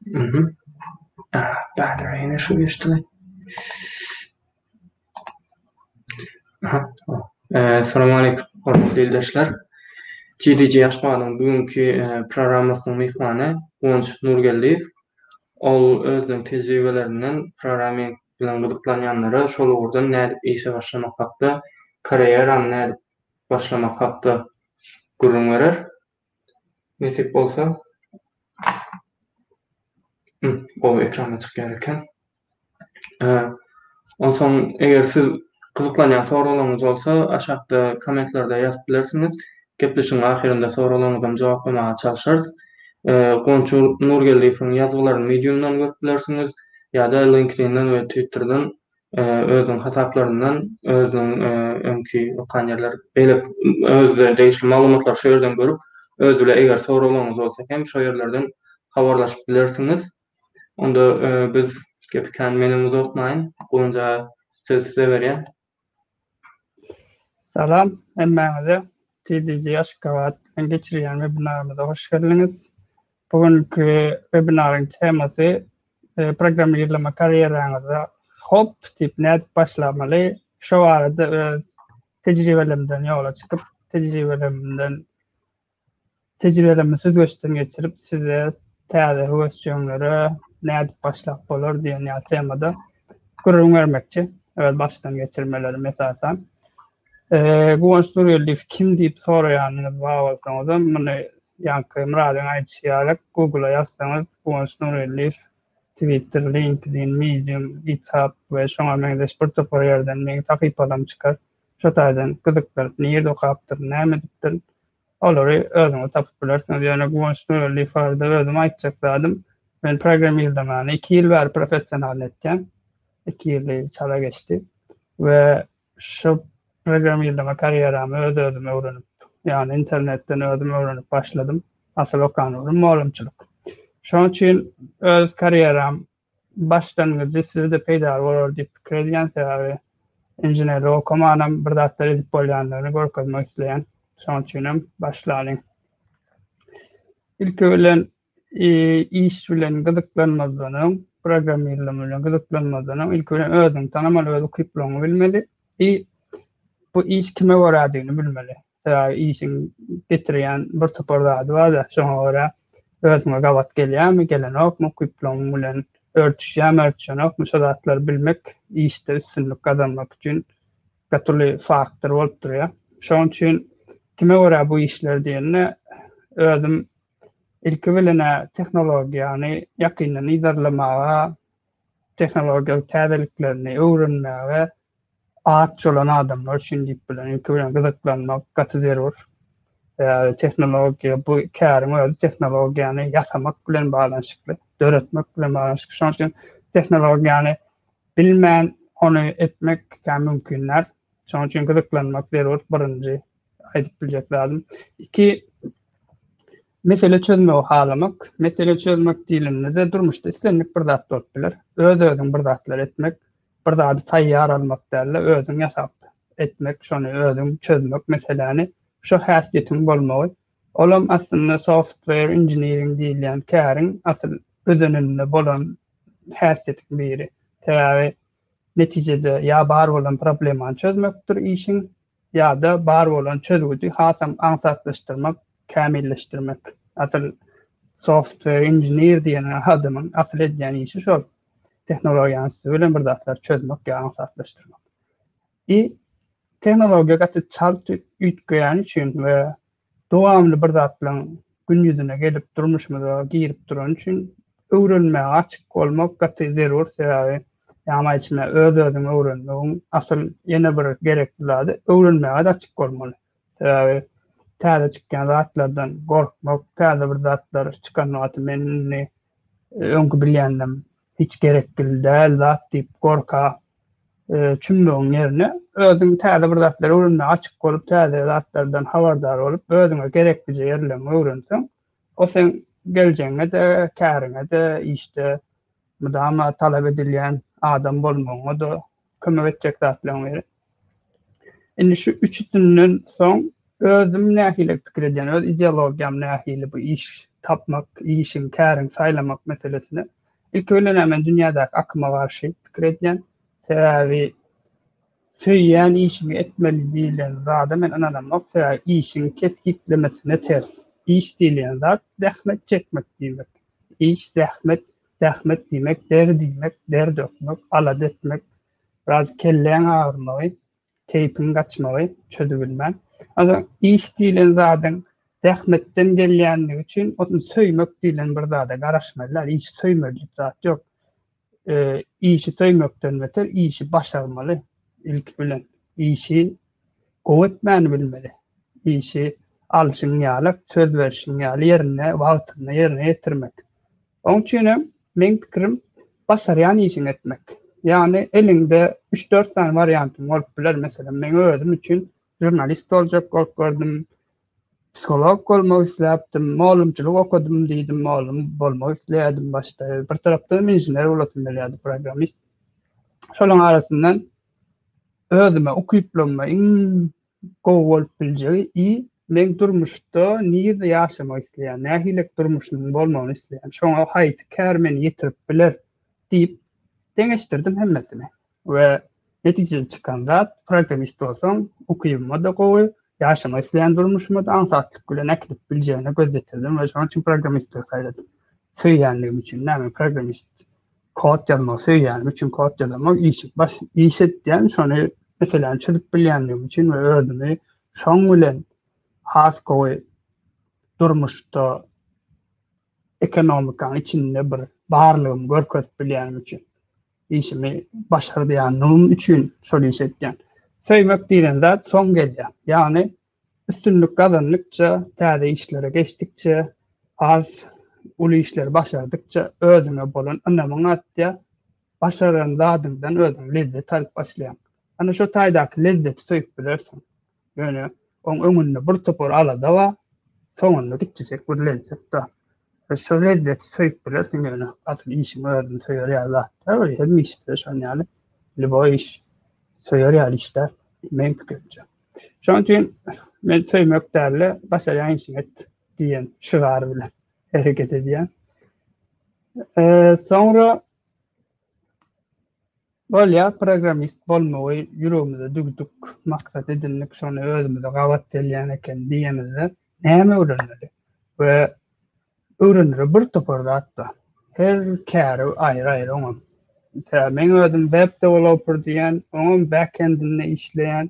Mhm. Ah, battery ýene şu geçdimi? Aha. Eee, salam aleykum, hormatly ildeşler. GDG Aşgabadyň bugünki programmasynyň myhmany Guwanç Nurgeldiýew. Ol özüniň tejribelerinden programming bilen gyzyklanýanlara şol ugurdan nädip işe başlamak hakda, karýerany nädip başlamak hakda gürrüň berer. Nesip bolsa gowy ekrana çykýar eken. Onsoň eger siz gyzyklanýan soraglaryňyz bolsa aşakda kommentlerde ýazyp bilersiňiz. Gepleşigiň ahyrynda soraglaryňyzam jogaplamaga çalşarys. Gonçy Nurgeldiýewiň ýazgylaryny mediumdan görüp bilersiňiz ýa-da linkedinden we twitterden özüniň hasaplaryndan özüniň öňki okan ýerler beýlek özüne degişli maglumatlary şu ýerden görüp öz bile eger soraglaryňyz bolsa hem şo ýerlerden habarlaşyp bilersiňiz onda biz gepi kän menem uzaltmaýyn gowunja söz size berýän. Salam hemmäňize TDG Aşgabat bilen geçirýän webinarymyza hoş geldiňiz. Bu günki webinaryň temasy e, programmirleme karýeraňyza hop diýip nädip başlamaly? Şu barada öz tejribelerimden ýola çykyp, tejribelerimden Tejribelerimi süzgeçden geçirip, size täze höwesjeňlere nädip başlap bolar diýen ýaly temada gürrüň bermekçi. Öz başdan geçirmelerim esasan. Guwanç Nurgeldiýew kim diýip soraýanyňyz bar bolsaňyzam, muny ýaňky Myradyň aýdyşy ýaly Google-a ýazsaňyz, Guwanç Nurgeldiýew, Twitter, LinkedIn, Medium, GitHub we şoňa meňzeş bir topar ýerden meň sahypalarymy çykar. Şu taýdan gyzykdyr, nirde okapdyr, näme edipdir, olary özüňiz tapyp bilersiňiz. Ýöne Guwanç Nurgeldiýew barada özüm aýtjak zadym, men programmirlemany iki ýyl bäri professionalny etýän, iki ýyly çala geçdi we şu programmirleme karýeramy öz-özüm öwrenip, ýagny internetden özüm öwrenip başladym. Asyl okan ugrum mugalymçylyk. Şonuň üçin öz karýeram başlangyjy size-de peýdaly bolar diýip pikir edýän sebäbi inženerlik okamanam bir zatlar edip bolýandygyny görkezmek isleýän şoň üçinem başlalyň ilki bilen iş bilen gyzyklanmazdan öň programmirleme bilen gyzyklanmazdan öň ilki bilen özüňi tanamaly öz ukyplygyňy bilmeli i bu iş kime görädigini bilmeli sebäbi işiň getirýän bir topar zady bar-da, şoňa görä özüňe gabat gelýärmi, gelenokmy, ukyplygyň bilen örtüşýärmi, örtüşenokmy, şo zatlary bilmek işde üstünlik gazanmak üçin gaty uly faktor bolup durýar. Şonuň üçin kime görä bu işler diýende, özüm ilki bilen-ä tehnologiýany ýakyndan yzarlamaga Tehnologiýa täzeliklerini öwrenmäge aç bolan adamlar üçin diýip bilen ilki bilen gyzyklanmak gaty zerur. Sebäbi tehnologiýa bu käriň özi tehnologiýany ýasamak bilen baglanyşykly, döretmek bilen baglanyşykly. Şonuň üçin tehnologiýany bilmän ony etmek kä mümkin däl. Şonuň üçin gyzyklanmak zerur birinji aýdyp biljek zadym. Iki Mesele çözmegi halamak, mesele çözmek diýlende-de durmuşda islendik bir zat bolup biler. Öz-özüň bir zatlar etmek, bir zady taýýar almak däl-de, özüň ýasap etmek, şony özüň çözmek meseläni, şo häsiýetiň bolmagy, olam aslynda software engineering diýilýän käriň asyl özeninde bolan häsiýetiň biri. Sebäbi netijede ýa bar bolan problemany çözmekdir işiň, ýa-da bar bolan çözgüdi hasam aňsatlaşdyrmak, kämilleşdirmek. Asyl software engineer diýen adamyň asyl edýän işi şol. Tehnologiýanyň üsti bilen bir zatlary çözmek ýa aňsatlaşdyrmak. I tehnologiýa gaty çalt üýtgeýäni üçin we Dowamly bir zatlaryň gün ýüzüne gelip durmuşymyza girip durany üçin öwrenmäge açyk bolmak gaty zerur sebäbi ýagny aýtmy öz özüňi öwrenmegiň asyl ýene bir gerekli zady öwrenmäge açyk bolmaly sebäbi täze çykýan zatlardan gorkmak täze bir zatlar çykan wagty men indi öňki bilýändim hiç gerekgil däl zat diýip gorka çümmegiň ýerine özüň täze bir zatlar öwrenmäge açyk bolup täze zatlardan habardar bolup özüňe gereklije ýerleň öwrenseň o seň geljegiňede käriňede işde mydama talap edilýän adam bolmagyňada kömek etjek zatlaryň biri. Indi şu üç üstünden soň özüm nähili pikir edýän, öz ideologiýam nähili bu iş tapmak, işiň, käriň saýlamak meselesine. Ilki bilen men dünýädäki akyma garşy pikir edýän. Sebäbi söýýän işimi etmeli diýlen zada men ynanamok. Sebäbi işiň kesgitlemesine ters. Iş diýilýän zat zähmet çekmek diýmek. Iş zähmet Zähmet diýmek, dert iýmek, der dökmek, alada etmek, biraz kelläň agyrmagy, keýpiň gaçmagy, çözübilmän. Onsoň iş diýlen zadyň zähmetden gelýändigi üçin ony söýmek diýlen bir zada garaşmaly däl. Işi söýmeli diýip zat ýok. Işi söýmekden beter işi başarmaly ilki bilen. Işi gowy etmäni bilmeli. Işi alşyň ýaly, söz berşiň ýaly ýerinde, wagtynda ýerine ýetirmek. Oň üçin hem, meň pikirim, başarýan işiňi etmek. Ýagny, eliňde üç-dört sany wariantyň bolup biler. Meselem, meň özüm üçin žurnalist boljak bolup gördüm, psiholog bolmak isläpdim, mugallymçylyk okadym diýdim, mugallym bolmak isleýärdim başda. Bir tarapdan hem inžener bolasym gelýärdi, programmist. Şolaryň arasyndan özüme, ukyplygyma iň Gowy bolup biljegi i meň durmuşda nirde ýaşamak isleýän, nähilek durmuşymyň bolmagyny isleýän, şoňa haýsy kär meni ýetirip biler diýip deňeşdirdim hemmesini we netijede çykan zat programmist bolsaň ukybyma-da gowy, ýaşamak isleýän durmuşyma-da aňsatlyk bilen äkidip biljegine göz ýetirdim we şonuň üçin programmistligi saýladym. Söýýänligim üçin-dä men programmist. Kod ýazmagy söýýänim üçin kod ýazamok, iş baş iş etýän, şony meseläni çözüp bilýändigim üçin we özümi şoň bilen has gowy durmuşda ekonomikanyň içinde bir barlygymy görkezip bilýänim üçin, işimi başardýanlygym üçin şol işi etýän. Söýmek diýlen zat soň gelýär. Ýagny Üstünlik gazandykça, täze işlere geçdikçe, has uly işleri başardykça özüňe bolan ynamyň artýar. Başaran zadyňdan özüň lezzet alyp başlaýaň. Ana şo taýdaky lezzeti söýüp bilersiň. Ýöne oň öňünde birtopar alada bar, soňunda gitjejek bir lezzet bar. Şu lezzeti söýüp bilersiň ýöne asyl işiň özüni söýer ýaly zat däl we hemme işde şon ýaly lýuboý iş söýer ýaly iş däl meň pikirimçe. Şoň üçin men söýmek däl-de başarýan işiňi et diýen şygar bilen hereket edýän. Soňra bolýa programmist bolmagy ýüregimize düwdük, maksat edindik, şony özümize gabat gelýän eken diýemizde Näme öwrenmeli? We öwrenere bir topar zat bar. Her käri aýry-aýry oňam. Mesela men özüm web developer diýýän, oňam back-endinde işleýän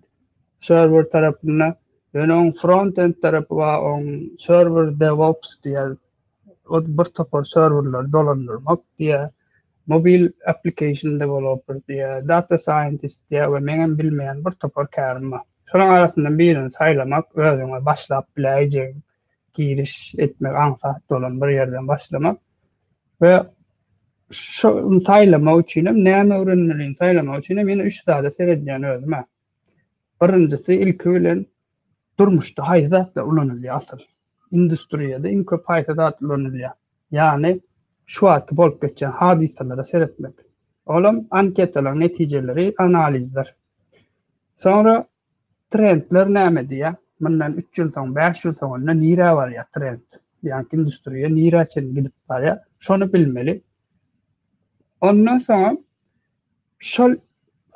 serwer tarapynda. Ýöne oň front-end tarapy bar, oň serwer devops diýýär, Ol bir topar serwerleri dolandyrmak diýýär. Mobil application developer diýýär, data scientist diýýär we meňem bilmeýän bir topar kärim bar. Şolaryň arasyndan birini saýlamak, özüňe başlap biläýjegiň giriş etmek aňsat bolan bir ýerden başlamak we şony saýlamak üçin hem näme öwrenmelini saýlamak üçin hem ýene üç zada seredýän özüm-ä. Birinjisi ilki bilen durmuşda haýsy zatlar ulanylýar asyl? Industriýada iň köp haýsy zat ulanylýar? Ýagny şu wagtky bolup geçýän hadysalara seretmek. Olam anketalaryň netijeleri, analizler. Soňra trendler näme diýýär? Mundan üç ýyl soň, bäş ýyl soň onda nirä barýar trend? Ýagny industriýa nirä çenli gidip barýar? Şony bilmeli. Ondan soňam şol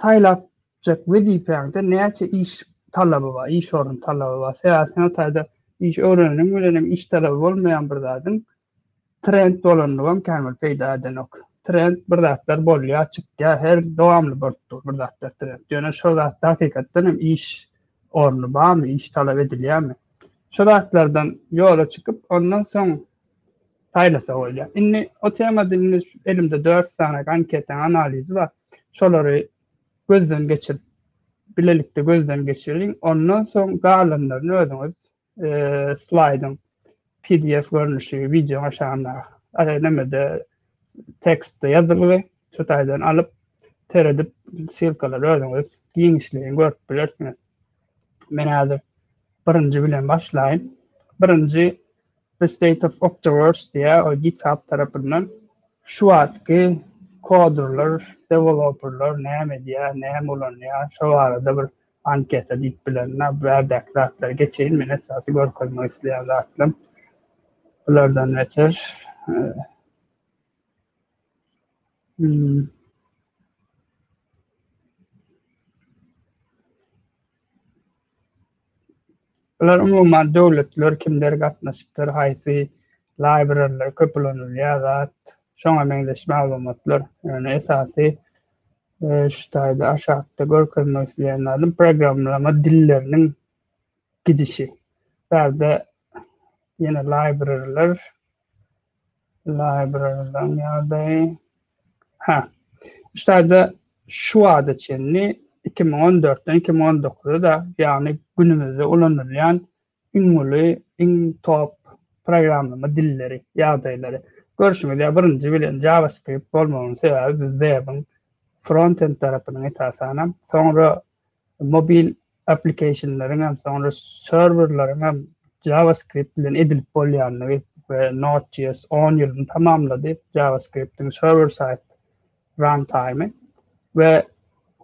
saýlap Jek wezipäňde näçe iş talaby bar, iş orny talaby bar. Sebäbi sen o taýda iş öwreneniň bilen hem iş talaby bolmaýan bir zadyň trend bolandygam kän bir peýda edenok. Trend bir zatlar bolýar, çykýar, her dowamly bolup dur bir zatlar trend. Ýöne şo zatda hakykatdan hem iş orny barmy, iş talap edilýärmi? Şo zatlardan ýola çykyp, ondan soň saýlasa bolýar. Indi o temada indi elimde dört sany anketaň analizi bar. Şolary gözden geçirip bilelikde gözden geçiriň ondan soň galanlaryny özüňiz slaýdyň pdf görnüşi wideoň aşagynda nemede tekstde ýazylgy şu taýdan alyp seredip ssilkalary özüňiz giňişleýin görüp bilersiňiz men häzir birinji bilen başlaýyn birinji The State of Octoverse diýýär, ol GitHub tarapyndan. Şu wagtky kodurlar, deweloperlar näme edýär, näme ulanýar, şo barada bir anketa diýip bilen, bu ýerdäki zatlary geçeýin, men esasy görkezmek isleýän zatlam bulardan beter. Bular umuman döwletler kimler gatnaşypdyr, haýsy laýbreriler köp ulanylýar zat, şoňa meňzeş maglumatlar. Ýöne esasy şu taýda aşakda görkezmek isleýän zadym programmalama dilleriniň gidişi. Bu ýerde ýene laýbreriler Library-dan ýagdaýy. Hä. Ştaýda şu wagta çenli iki müň on dörtden iki müň on dokuza-da, ýagny günümizde ulanylýan iň uly, iň top programlama dilleri, ýagdaýlary. Görşüňiz ýaly, birinji bilen JavaScript bolmagynyň sebäbi biz web-iň frontend tarapynyň esasanam, soňra Mobil applikasionlaryň hem, soňra serwerleriň hem JavaScript bilen edilip bolýandygy we Node.js on ýylyny tamamlady, JavaScript-iň serwer-side runtime-i we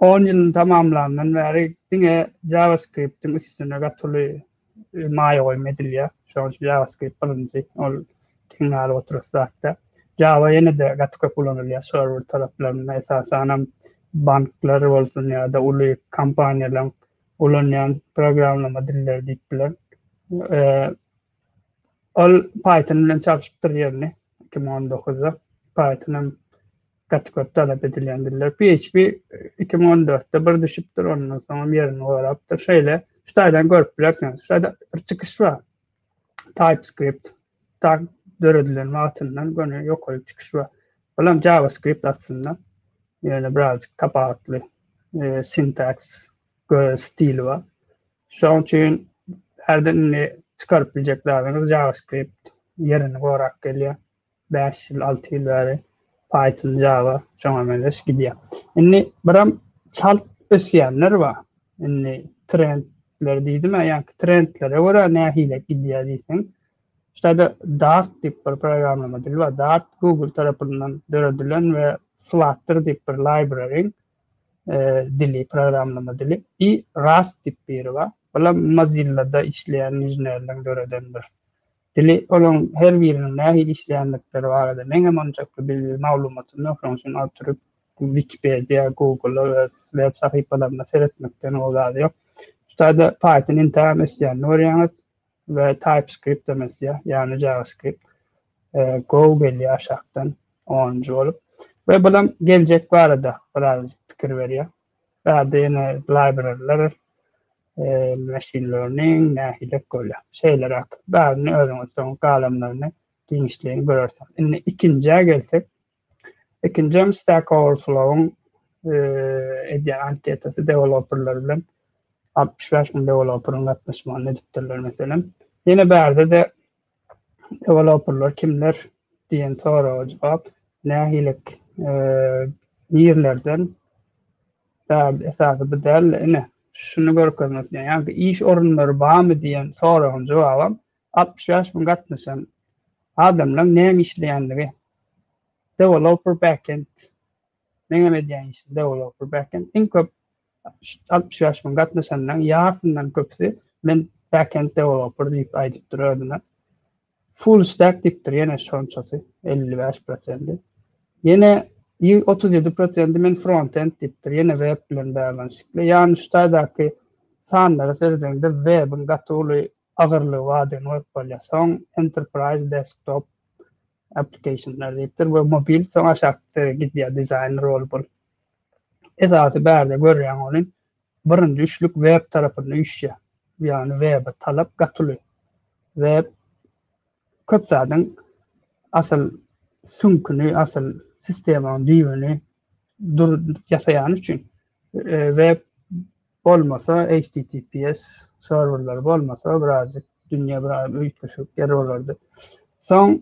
on ýylyny tamamlandan bäri diňe JavaScript-iň üstüne gaty uly maýa goýum edilýär. Şonuň üçin JavaScript birinji, ol giň galyp oturyş zatda. Java ýene-de gaty köp ulanylýar serwer taraplarynda, esasanam banklar bolsun ýa-da uly kompaniýalaryň ulanýan programmalama dilleri diýip biler. Ol Python bilen çalşypdyr ýerini 2019-da. Python hem gaty köp talap edilýän diller. PHP iki müň on dörtde bir düşüpdir, ondan soňam ýerini gorapdyr. Şeýle şu taýdan görüp bilersiňiz. Şu taýda bir çykyş bar. TypeScript tak döredilen wagtyndan göni ýokary çykyş bar. Olam JavaScript aslynda. Ýöne birazjyk tapawutly e, sintaks stili bar. Şoň üçin herde indi çykaryp biljek zadyňyz JavaScript ýerini gorap gelýär. bäş ýyl, alty ýyl bäri paýtly jaýa şoňa meňzeş gidýär. Indi biram çalt ösýänler bar. Indi trendler diýdimä, ýaňky trendlere görä nähili gidýär diýseň, şeýle Dart diýip bir programlama dili bar. Dart Google tarapyndan döredilen we Flutter diýip bir library dili, programlama dili i Rust diýip biri bar. Bulam Mozilla-da işleýän inženerleriň döreden bir Dili, olaň her biriniň nähili işleýändikleri barada meňem onçakly bilgili maglumatym ýok, şonuň üçin oturyp Wikipediýa, Google-a we web sahypalaryna seretmekden gowy zat ýok. Şutada Python entägem ösýänini görýäňiz we TypeScript-em ösýär, ýagny JavaScript. Go gelýär aşakdan onunjy bolup we bulam geljek barada birazajyk pikir berýär. Bärde ýene blaýbereller meşinleriniň nähilek bolýa. Şeýleräk bärini özüňiz soň galamlaryny giňişleýin görersiňiz. Indi ikinjä gelsek. Ikinjem Stack Overflow-yň edýän anketasy deweloperler bilen altmyş bäş müň deweloperyň gatnaşmagynda edipdirler meselem. Ýene bärde-de deweloperler kimler diýen soraga jogap, nähililik nirlerden däl esasy bu däl ine şuny görkezmek isleýän ýa-da iş orunlary barmy diýen soragyň jogabam altmyş bäş müň gatnaşan adamlaň näme işleýändigi deweloper backend meňem edýän işim deweloper backend iň köp 60 ýaş bilen gatnaşanlaryň ýarysyndan köpüsi men backend deweloper diýip aýdypdyr özüne. Full stack diýipdir ýene şonçasy 55 prosendi. Ýene 37 prosendi men frontend diýipdir ýene web bilen baglanyşykly. Ýagny şu taýdaky sanlara seredende webiň gaty uly agyrlygy bardygyny görüp bolýar. Soň enterprise desktop applicationlar diýipdir we mobil soň aşakda gidýär dizaýner bolup ol. Esasy bärde görýän ony birinji üçlük web tarapynda üýşýär. Ýagny webe talap gatyly. Web köp zadyň asyl süňküni, asyl sistemanyň düýbüni dur ýasaýany üçin e, web Bolmasa HTTPS serwerleri bolmasa birazjyk dünýä bir üýtgeşik ýer bolardy. Soň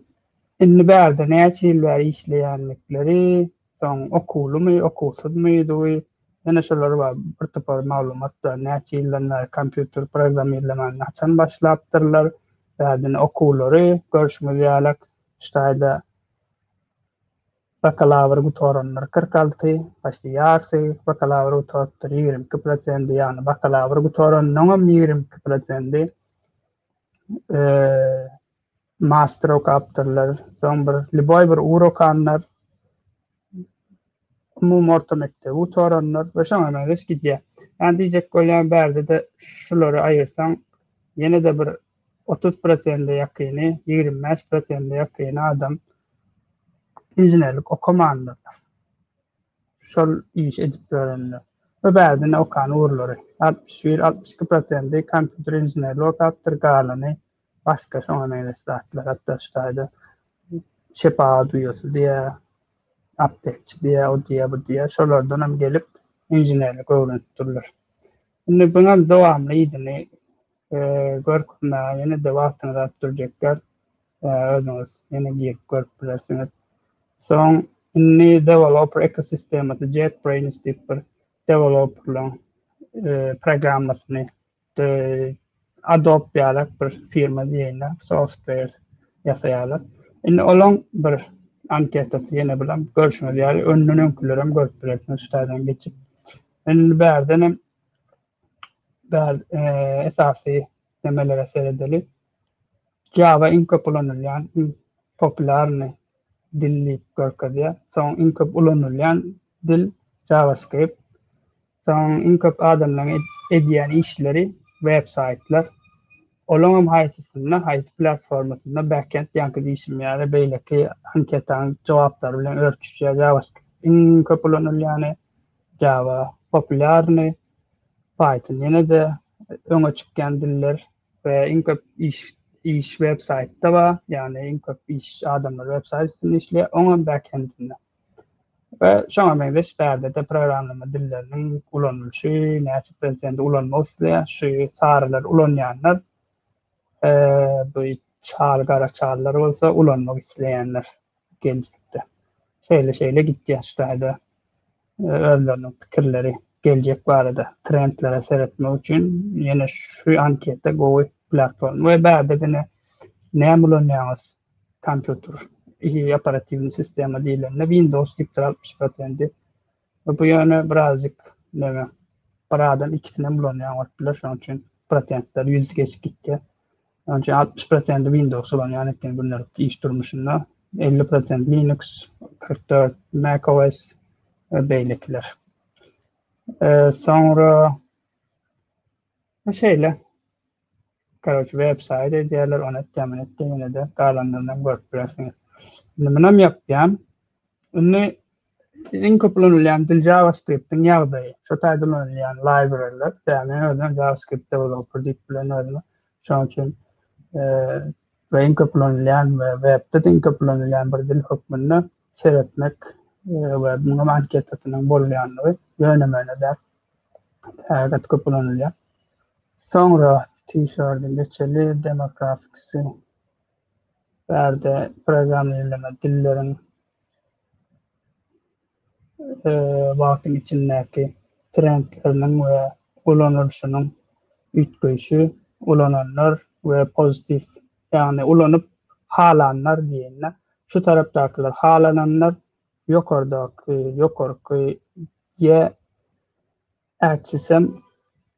indi bärde näçe ýyl bäri işleýändikleri, soň okuwlymy, okuwsyzmydygy, ýene şolar bar bir topar maglumat bar. Näçe ýyldan bäri kompýuter programmirlemegini haçan başlapdyrlar, bärde okuwlary görşüňiz ýalak ştaýda Bakalawry gutaranlar kyrk alty, başda ýarsy bakalawry gutarypdyr, ýigrimi iki prosendi, ýagny bakalawry gutaranyňam ýigrimi iki prosendi master okapdyrlar, soň bir lýuboý bir ugur okanlar, umumy orta mekdebi gutaranlar we şoňa meňzeş gidýär. Ýagny diýjek bolýan bärde-de şulary aýyrsaň ýene-de bir otuz prosente ýakyny, ýigrimi bäş prosente ýakyny adam inženerlik okamandyrlar. Şol işi edip ýörenler we bärdine okan ugurlary, altmyş bir, altmyş iki prosenti kompýuter inženerligi okapdyr, galany başga şoňa meňzeş zatlar, hatda şu taýda şepagat uýasy diýýär, aptekçi diýýär, o diýýär, bu diýýär, şolardan hem gelip inženerlik öwrenip durlar. Indi buňam dowamly yzyny Görküm daga ýene-de wagtyňyz alyp durjekgär. Özüňiz ýene girip görüp bilersiňiz. Soň indi developer ekosistemasy JetBrains diýip bir developerlaň programmasyny Adobe ýalak bir firma diýýärler, software ýasaýarlar. Indi olaň bir anketasy ýene bilen görşüňiz ýaly öňden öňkülerem görüp bilersiňiz şu taýdan geçip. Indi bärden hem Bärde eee esasy nemelere seredeli. Java iň köp ulanylýan, iň populýarny dil diýip görkezýär. Soň iň köp ulanylýan dil JavaScript. Soň iň köp adamlaryň ed- edýän işleri web saýtlar. Olaňam haýsysynda, haýsy platformasynda backend ýaňky diýşim ýaly beýleki anketaň jogaplary bilen örtüşýär. JavaScript iň köp ulanylýany. Java, Populýarny, Python ýene-de öňe çykýan diller we iň köp iş iş websaýtda bar, ýagny iň köp iş adamlar websaýt üstünde işleýär, oňam backend-inde. We şoňa meňzeş bärde-de programlama dilleriniň ulanylyşy, näçe prezident ulanmak isleýär, şu sarylar ulanýanlar, bu çal gara çallar bolsa ulanmak isleýänler. geljekde. Şeýle-şeýle gitýäs taýda özleriniň pikirleri geljek barada trendlere seretmek üçin ýene şu anketa gowy platforma we bärde diňe näme ulanýaňyz kompýuter operatiwny sistema diýlende windows gitdir altmyş prosendi Bu ýöne birazjyk neme, bir adam ikisinem ulanýan bolup biler, şonuň üçin prosentler ýüz geçip gitýär. Şonuň üçin altmyş prosenti Windows ulanýan eken gündelik iş durmuşynda, elli prosent Linux, kyrk dört MacOS we beýlekiler. Soňra Bu şeýle. Karoç web saýt edýärler, ony etde, muny etde, ýene-de galanlaryny görüp bilersiňiz. Indi munam ýapýan. Indi iň köp ulanylýan dil JavaScript-iň ýagdaýy. Şo taýda ulanylýan library-ler, täme özüm JavaScript developer diýip bilen özümi. Şonuň üçin we iň köp ulanylýan we webde iň köp ulanylýan bir dil hökmünde seretmek we muňa anketasynyň bolýandygy ýöne-möne däl. Häzir köp ulanylýar. Soňra t-şirdi meçeli demografiksi bärde programmirleme dilleriň wagtyň içindäki trendleriniň we ulanylyşynyň üýtgeýşi ulananlar we pozitiw ýagny ulanyp halanlar diýeýin-de şu tarapdakylar halananlar Ýokardaky, ýokarky, ýe ätsisem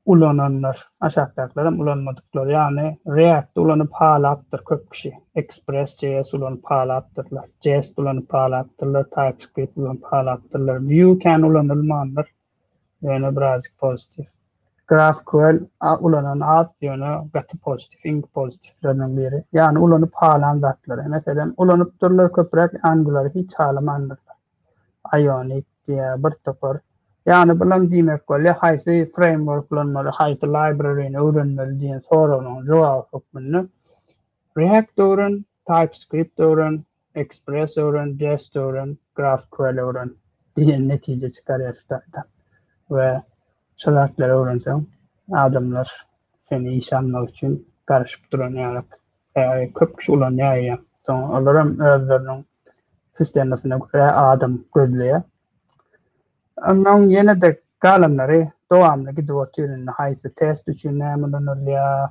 ulananlar, aşakdakylaram ulanmadyklar, ýagny React ulanyp halapdyr köp kişi, Express JS ulanyp halapdyrlar, Jest ulanyp halapdyrlar, TypeScript ulanyp halapdyrlar, Vue kän ulanylmandyr, ýöne birazjyk pozitiw. GraphQL ulanan az, ýöne gaty pozitiw, iň pozitiwleriniň biri. Ýagny ulanyp halan zatlary. Meselem, ulanypdyrlar köpräk Angular-y hiç halamandyrlar. Ionic diýä bir topar. Ýagny bulam diýmek bolýar, haýsy framework ulanmaly, haýsy library-ny öwrenmeli diýen soragynyň jogaby hökmünde React öwren, TypeScript öwren, Express öwren, Jest öwren, GraphQL öwren diýen netije çykarýar şu taýdan. We şu zatlary öwrenseň, adamlar seni işe almak üçin garaşyp duran ýalyk. AI köp kişi ulanýar ýa. Soň olar hem özleriniň sistemasyna görä adam gözleýär. Ondan ýene-de galanlary dowamly gidip otyr indi haýsy test üçin näme ulanylýar,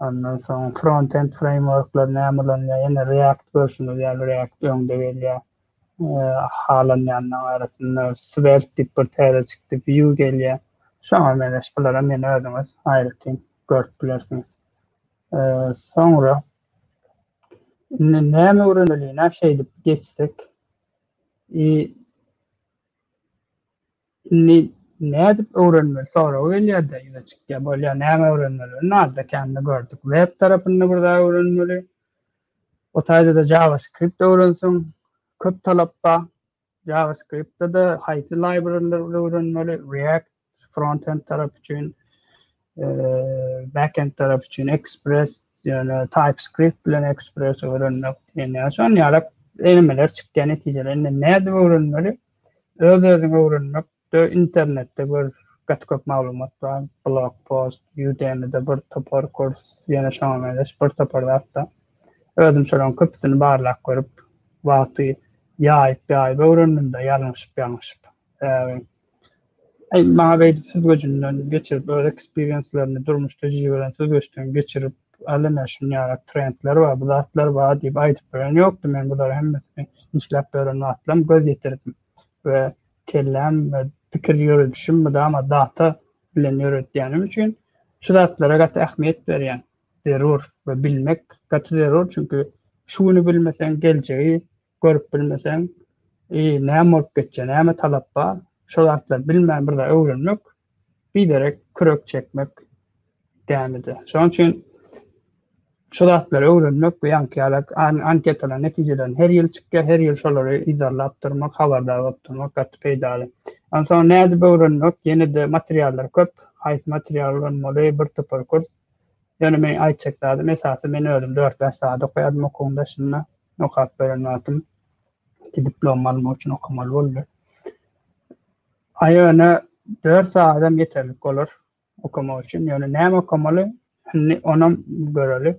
Ondan soň frontend freýmworklar näme ulanýar? Ýene React görşüňiz ýaly React öňde gelýär. Halanýanlaryň arasynda Svelte diýip bir täze çykdy, Vue gelýär. Şoňa meňzeş bularam ýene özüňiz aýratyn görüp bilersiňiz. Soňra indi näme öwreneli? Ina şeýdip geçsek. Indi nädip öwrenmeli soragy gelýärde ýüze çykýar. Bolýar näme öwrenmeli ony alda kände gördük. Web tarapynda bir zat öwrenmeli. O taýdada JavaScript öwrenseň köp talap ba. JavaScript-de haýsy library-leri öwrenmeli React frontend tarap üçin backend tarap üçin Express ýöne TypeScript bilen Express öwrenmek diýen ýaly şon ýalak elemeler çykýar netijede indi nädip öwrenmeli Öz-özüňi öwrenmek de internetde gör gaty köp maglumat bar, blog post, Udemy-de bir topar kurs, ýene şoňa meňzeş bir topar zatda. Özüm şolaryň köpüsini barlap görüp, wagty ýaýyp-ýaýyp öwrendim-de, ýalňyşyp-ýalňyşyp. Aý maňa beýdip süzgüjinden geçirip öz eksperienslerini durmuş tejribelerini süzgüçden geçirip al ine şunýaly trendler bar bu zatlar bar diýip aýdyp bilen ýokdy men bular hemmesini işläp ýören wagtlam göz ýetirdim we kelläm we pikir ýöredişim mydama data bilen ýöretýänim üçin şu zatlara gaty ähmiýet berýän zerur we bilmek gaty zerur çünki şu güni bilmeseň geljegi görüp bilmeseň, i, näme bolup geçýär, näme talap bar, şo zatlary bilmän bir zat öwrenmek, biderek kürek çekmek dämidi. Şonuň üçin şu zatlary öwrenmek bu ýaňky ýaly anketalar netijelerini her ýyl çykýar, her ýyl şolary yzarlap durmak, habardar bolup durmak gaty peýdaly. Onsoň nädip öwrenmek? Ýene-de materiallar köp. Haýsy material ulanmaly? Bir topar kurs. Ýöne men aýtjak zadym esasy men özüm dört-bäş sagat okaýardym okuwyň daşynda. Okap beren wagtym iki diplom almak üçin okamaly boldy. Aýyna dört sagatam ýeterlik bolar okamak üçin. Ýöne näme okamaly? Indi onam göreli.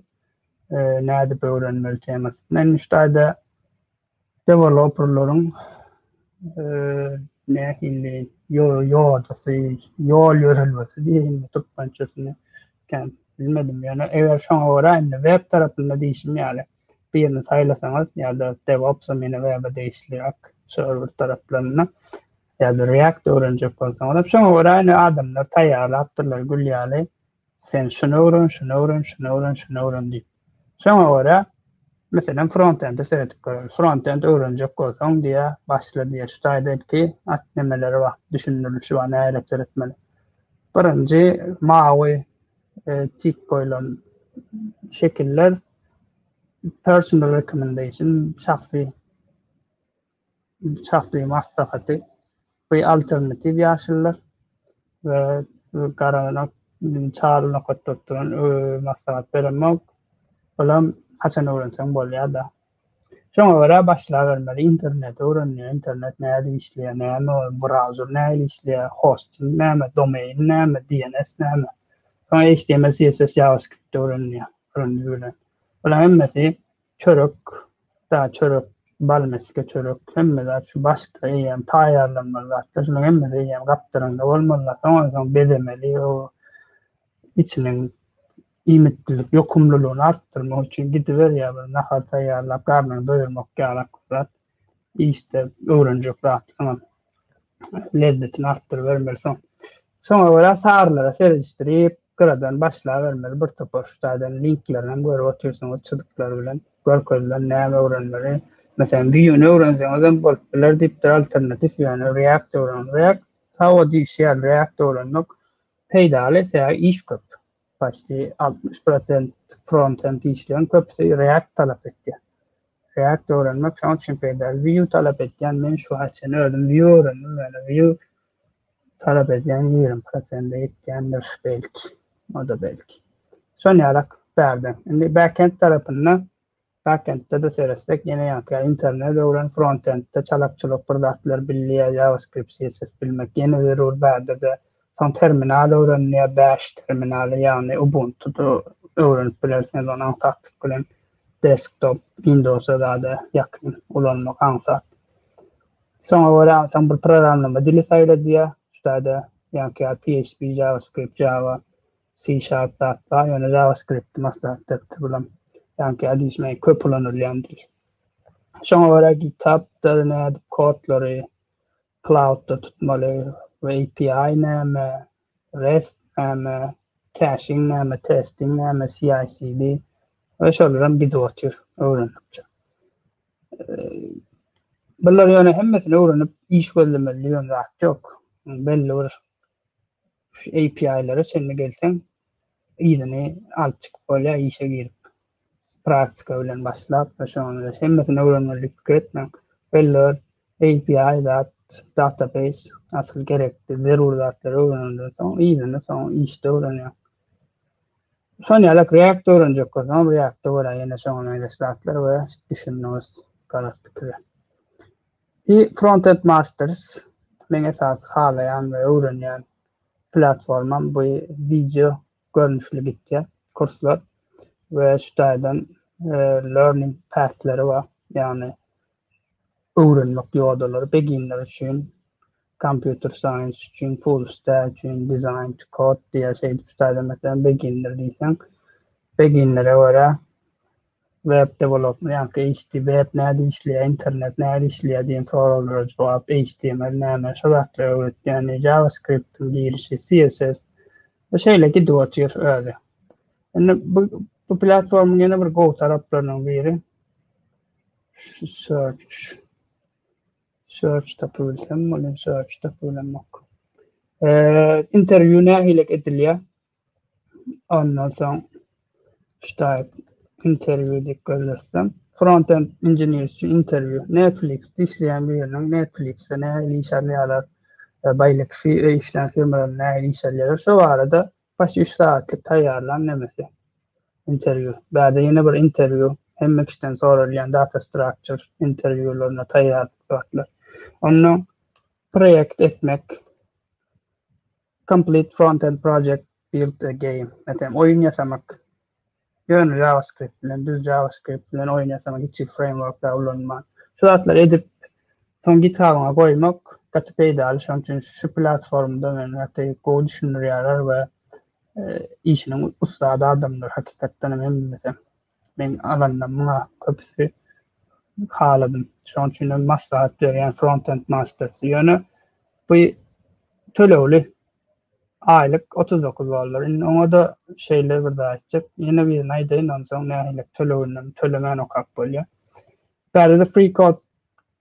E, nädip öwrenmeli temasy. Men şu taýda deweloperlaryň e, nähili ýodasy, ýol ýörelgesi diýen türkmençesini bilmedim. Ýöne eger şoňa görä indi web tarapynda diýşim ýaly. birini saýlasaňyz ýa-da DevOps-a meni web-e degişli ak serwer taraplarynda ýa-da React öwrenjek bolsaňyzam şoňa görä indi adamlar taýýarlapdyrlar gül ýaly sen şuny öwren, şuny öwren, şuny öwren, şuny öwren diýip. Şoňa görä meselem frontende seredip göreli. Frontend öwrenjek bolsaň diýä, başla diýä. Şu taýda ilki at nemeleri bar, düşündirilişi bar, nähili seretmeli. Birinji mawy e, tik goýlan şekiller Personal recommendation, şahsy şahsy maslahaty, we alternatiw ýaşulular we garagana çal nokatda oturan maslahat beremok. Olam haçan öwrenseň bolýada. Şoňa görä başlabermeli interneti öwrenmeli internet nädip işleýär näme ol browser nähili işleýär hosting näme domain näme dns näme soň html css javascript öwrenilýär. Göründügi bilen. Bulaň hemmesi çörek, da çörek, bal mesge çörek, hemme zat şu başda eýýäm taýýarlanmaly zatlar. Şulaň hemmesi eýýäm gapdaryňda bolmalylar. Soňam soň bezemeli, o içiniň iýmitlilik ýokumlylygyny artdyrmak üçin gidiberýär bir nahar taýýarlap, garnyňy doýurmak ýalak zat. işde öwrenjek zatlaryňam lezzetini artdyrybermeli. Soň, şoňa görä sarylara seredişdirip, gyradan başlabermeli. Bir topar şu taýdan linklerinam görüp otyrsyňyz, çyzyklar bilen görkezilen näme öwrenmeli. Meselem, Vue-ni öwrenseňizem bolup biler diýipdir, alternatiw ýöne React öwreniň. React, hawa diýişýär, React öwrenmek peýdaly, sebäbi iş köp. Başda altmyş prosent frontend işleýän köpüsi React talap etýär. React öwrenmek şoň üçin peýdaly. Vue talap etýän, men şu wagta çenli özüm Vue öwrendim, ýöne Vue talap edýän ýigrimi prosente ýetýändir belki, o-da belki. Şonýarak bärde. Indi backend tarapynda Backend-de-de seretsek ýene ýaňky internet öwren frontend-de çalakçylyk bir zatlar bilýär JavaScript CSS bilmek ýene zerur bärde-de soň terminal öwrenilýär bash terminaly ýagny ubuntu-da öwrenip bilersiňiz ony aňsatlyk bilen desktop windows-a zada ýakyn ulanmak aňsat şoňa görä soň bir programlama dili saýla diýýär şu taýda ýaňky ýaly PHP JavaScript Java C-Sharp zat bar, ýöne JavaScript-i maslahatdakdyr bulam. Ýaňky ädişme köp ulanylýan dil. Şoňa görä GitHub-da nädip kodlary cloud-da tutmaly we API näme, REST näme, caching näme, testing näme, CI-CD we şolaram gidip otyr öwrenmekçe. Bular ýöne hemmesini öwrenip iş gözlemeli diýen zat ýok. Belli bir Şu API-lere çenli gelseň, yzyny alyp çykyp bolýar, işe girip, praktika bilen başlap, şonda hemmesini öwrenmeli pikir etmäň. Belli bir API zat, database, asyl gerekli, zerur zatlary öwrenenden soň, yzyny soň işde öwrenýär. Şonuň ýaly React öwrenjek bolsaň, React-da görä ýene şoňa meňzeş zatlar we düşündiňiz, garaz pikiri. I Frontend Masters meň esasy halaýan we öwrenýän platformam bu wideo görnüşli gitýär kurslar we şu taýdan learning pathleri bar ýagny öwrenmek ýodalary beginner üçin computer science üçin full stack üçin design to code diýýär şeýdip şu taýdan meselem beginner diýseň beginnere görä Web dewelopment ýa-da HT, web nädip işleýär, internet nädip işleýär diýen soraglara jogap, HTML näme, şo zatlary öwretýän, JavaScript-iň girişi, CSS we şeýle gidip otyr özi. Indi bu bu platformyň ýene bir gowy taraplarynyň biri search. Search tapyp bilsem, muny search tapyp bilemok. Eee, interwýu nähili edilýär? Ondan soň ştaýt interwýu diýip gözlesem, front-end inžener üçin interwýu, Netflix-de işleýän biriniň Netflix-de nähili iş alýarlar, baýlak işleýän firmalarda nähili iş alýarlar, şo barada başy üç sagatlyk taýýarlan nemesi interwýu. Bärde ýene bir interwýu, hemme kişiden soralýan data structure interwýularyna taýýarlyk zatlar. Ondan proýekt etmek, Complete frontend project, build a game. Meselem, oýun ýasamak. Ýöne JavaScript bilen, düz JavaScript bilen oýun ýasamak, hiç hili frameworklar ulanman. Şu zatlary edip, soň GitHub-yňa goýmak gaty peýdaly. Şonuň üçin şu platformada men gaty gowy düşündirýärler we işiniň ussat adamlar hakykatdan hem hemmesi. Men alanda muňa köpüsi haladym. Şoň üçin hem maslahat berýän Frontend Masters. Ýöne bu tölegli aýlyk 39 dollar. Indi oňa da şeýle bir zat etjek. Ýene birini aýdaýyn, onsoň nähili töleginden tölemän okap bolýar. Bäri de Free Code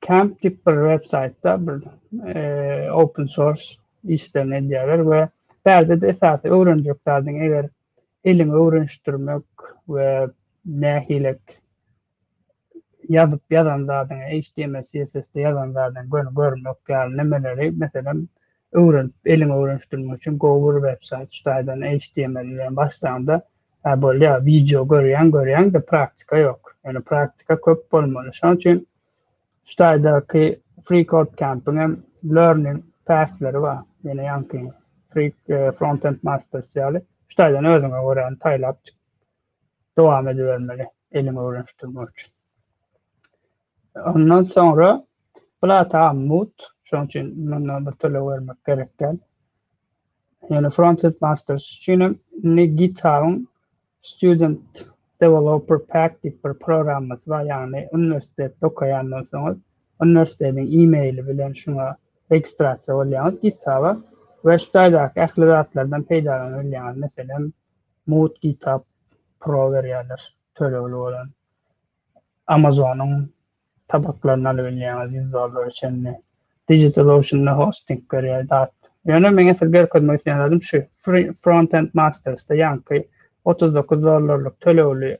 Camp diýip bir websaýtda bir e, open source işlerini edýärler we bärde de esasy öwrenjek zadyň eger elin öwrenişdirmek we nähilet ýazyp ýazan zadyňy HTML CSS-de ýazan zadyňy göni görmek ýaly nimeleri meselem öwrenip elin öwrenişdirmek üçin gowy bir websaýt şu taýdan HTML bilen başlaňda hä bolýa wideo görýäň görýäňde praktika ýok ýöne praktika köp bolmaly şoň üçin Hytaýdaky FreeCodeCamp-iň hem Learning Path-leri bar. Ýene ýaňky Free Frontend Masters ýaly, Hytaýdan özüňe göräni saýlap dowam edibermeli, eliňi öwrenişdirmek üçin. Ondan soňra Plata Mut, şonuň üçin munda bir töleg bermek gerek däl. Ýöne Frontend Masters üçin hem indi GitHub-yň Student Developer Pack diýip bir programmasy bar, ýagny uniwersitetde okaýandan soňuň uniwersitetiň e-maili bilen şuňa registrasiýa bolýaňyz GitHub-a we şu taýdaky ähli zatlardan peýdalanabilýäňiz. Meselem, mugt GitHub Pro berýärler, tölegli bolan. Amazon-yň sapaklaryny alyp bilýäňiz ýüz dollara çenli. Digital Ocean-da hosting berýär zat. Ýöne meň esl görkezmek isleýän zadym şu, Free Frontend Masters-da ýaňky otuz dokuz dollarlyk tölegli